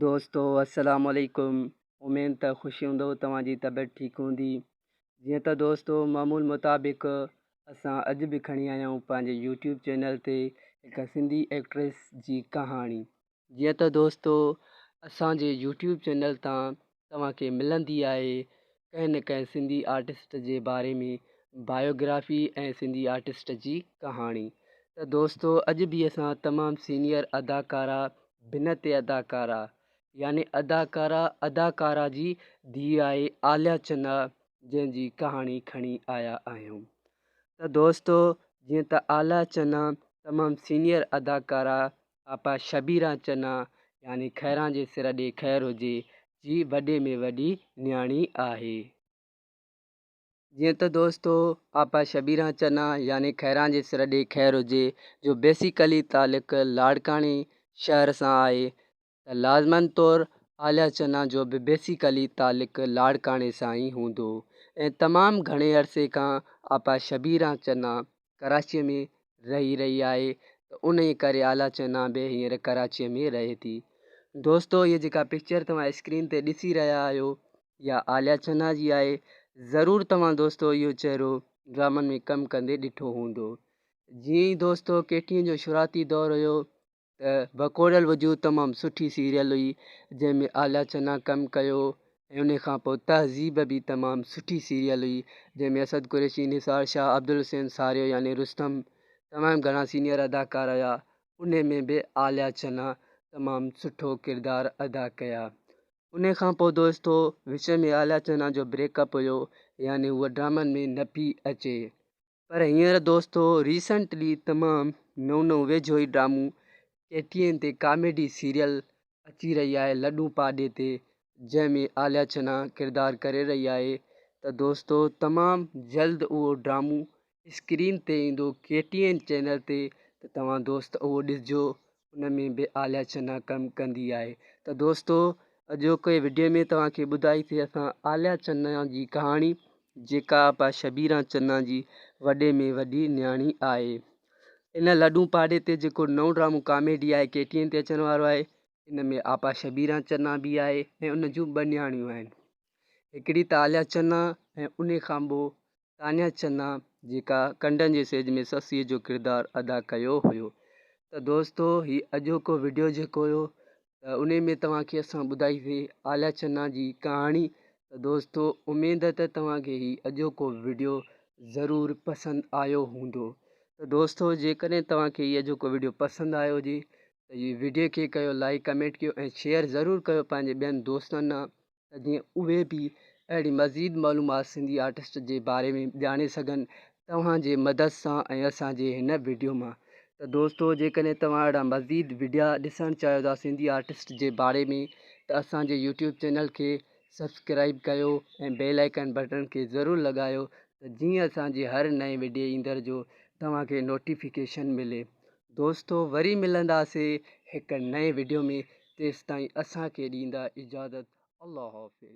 دوستو السلام عليڪم اميد ته خوش هوندؤ توهان جي طبيعت ٺيڪ هوندي جيئن ته دوستو معمول مطابق اسان اڄ به کڻي آيا آهيون پنهنجي يوٽيوب چينل تي هڪ سنڌي ايڪٽريس جي ڪهاڻي جيئن ته دوستو اسان جي يوٽيوب چينل تان توهان کي ملندي آهي ڪنهن نه ڪنهن سنڌي آرٽسٽ جي باري ۾ بايوگرافي ۽ سنڌي آرٽسٽ جي ڪهاڻي ته دوستو اڄ به اسان تمام سينيئر اداڪارا بنت اداڪارا يعني اداڪارا اداڪارا جي ڌيء آهي عاليا چنا جنهن جي ڪهاڻي کڻي آيا آهيون ته دوستو جيئن ته عاليا چنا تمام سينيئر اداڪارا آپا شبيران چنا يعني خيران جي سر ڏي خير هجي جي وڏي ۾ وڏي نياڻي آهي. جيئن ته دوستو آپا شبيران چنا يعني خيران جي سر ڏي خير هجي جو بيسيڪلي تعلق لاڙڪاڻي شهر سان آهي ته لازمن طور عاليا چنا جو به بيسيڪلي تعلق لاڙڪاڻي سان ئي هوندو ۽ تمام گهڻي عرصي کان آپا شبيران چنا ڪراچيء ۾ رهي رهي آهي ته انهيء ڪري آلاچنا به هينئر ڪراچيء ۾ رهي ٿي. دوستو هيء جيڪا پڪچر توهان اسڪرين تي ڏسي رهيا آهيو اها آلاچنا جي آهي. ضرور توهان دوستو اهو چهرو ڊرامن ۾ ڪم ڪندي ڏٺو هوندو. جيئن ئي دوستو ڪيٽين جو شروعاتي دور هيو ته ڀڪوڙيل وجود تمام سٺي سيريل هئي جنهن ۾ آلاچنا ڪم ڪيو ۽ ان کان پوء تهذيب به تمام سٺي سيريل هئي جنهن ۾ اسد قريشي نثار شاهه عبدالحسين ساريو يعني رستم تمام گهڻا سينيئر اداڪار هيا ان ۾ به آلاچنا تمام سٺو ڪردار ادا ڪيا ان کان پوء دوستو وچ ۾ آلاچنا جو بريڪ اپ هيو يعني هوء ڊرامن ۾ نه پئي اچي پر هينئر دوستو ريسنٽلي تمام نئون نئون ويجهو ئي ڊرامو ٽي ٽي اين تي ڪاميڊي سيريل اچي رهي آهي لڏون پاڏي تي جنهن ۾ عاليا چنا ڪردار ڪري رهي آهي ته دوستو تمام جلد اهو ڊرامو اسڪرين تي ايندو ڪي ٽي اين چينل تي ته توهان دوست اهو ڏسجو ان ۾ به آلياچنا ڪم ڪندي آهي ته دوستو اڄوڪي وڊيو ۾ توهانکي ٻڌائيسي اسان آلياچنا جي ڪهاڻي جيڪا آپا شبيرا چنا جي وڏي ۾ وڏي نياڻي آهي ان لڏون پاڙي تي جيڪو نئون ڊرامو ڪاميڊي آهي ڪي ٽي اين تي اچڻ وارو آهي ان ۾ آپا شبيرا چنا به آهي ۽ ان جون ٻه نياڻيون آهن هڪڙي ته آلياچنا ۽ ان کان ٻو تانيا چنا جيڪا ڪنڊن جي سيج ۾ سسئي جو ڪردار ادا ڪيو هيو ته دوستو هي اڄوڪو وڊيو جيڪو هيو ته انهي ۾ توهان کي اسان ٻڌائي سي آليا چنا جي ڪهاڻي ته دوستو اميد ته توهان کي هي اڄوڪو وڊيو ضرور پسند آيو هوندو ته دوستو جيڪڏهن توهان کي هي اڄوڪو وڊيو پسند آيو هجي ته هي وڊيو کي ڪيو لائيڪ ڪمينٽ ڪيو ۽ شيئر ضرور ڪيو پنهنجي ٻين دوستن ته جيئن اهي به اهڙي مزيد معلومات سنڌي آرٽسٽ جي باري ۾ ڄاڻي سگهن توهان جي مدد سان ۽ اسان جي هن وڊيو مان ته دوستو جيڪڏهن توهان اهڙا مزيد وڊيا ڏسڻ چاهيو ٿا سنڌي آرٽسٽ جي باري ۾ ته اسان جي يوٽيوب چينل کي سبسڪرائيب ڪيو ۽ بيل آئيڪن بٽڻ کي ضرور لڳايو ته جيئن اسان جي هر نئين وڊيو ايندڙ جو توهان کي نوٽيفڪيشن ملي دوستو وري ملنداسين هڪ نئين وڊيو ۾ تيستائين اسان کي ڏيندا اجازت الله حافظ.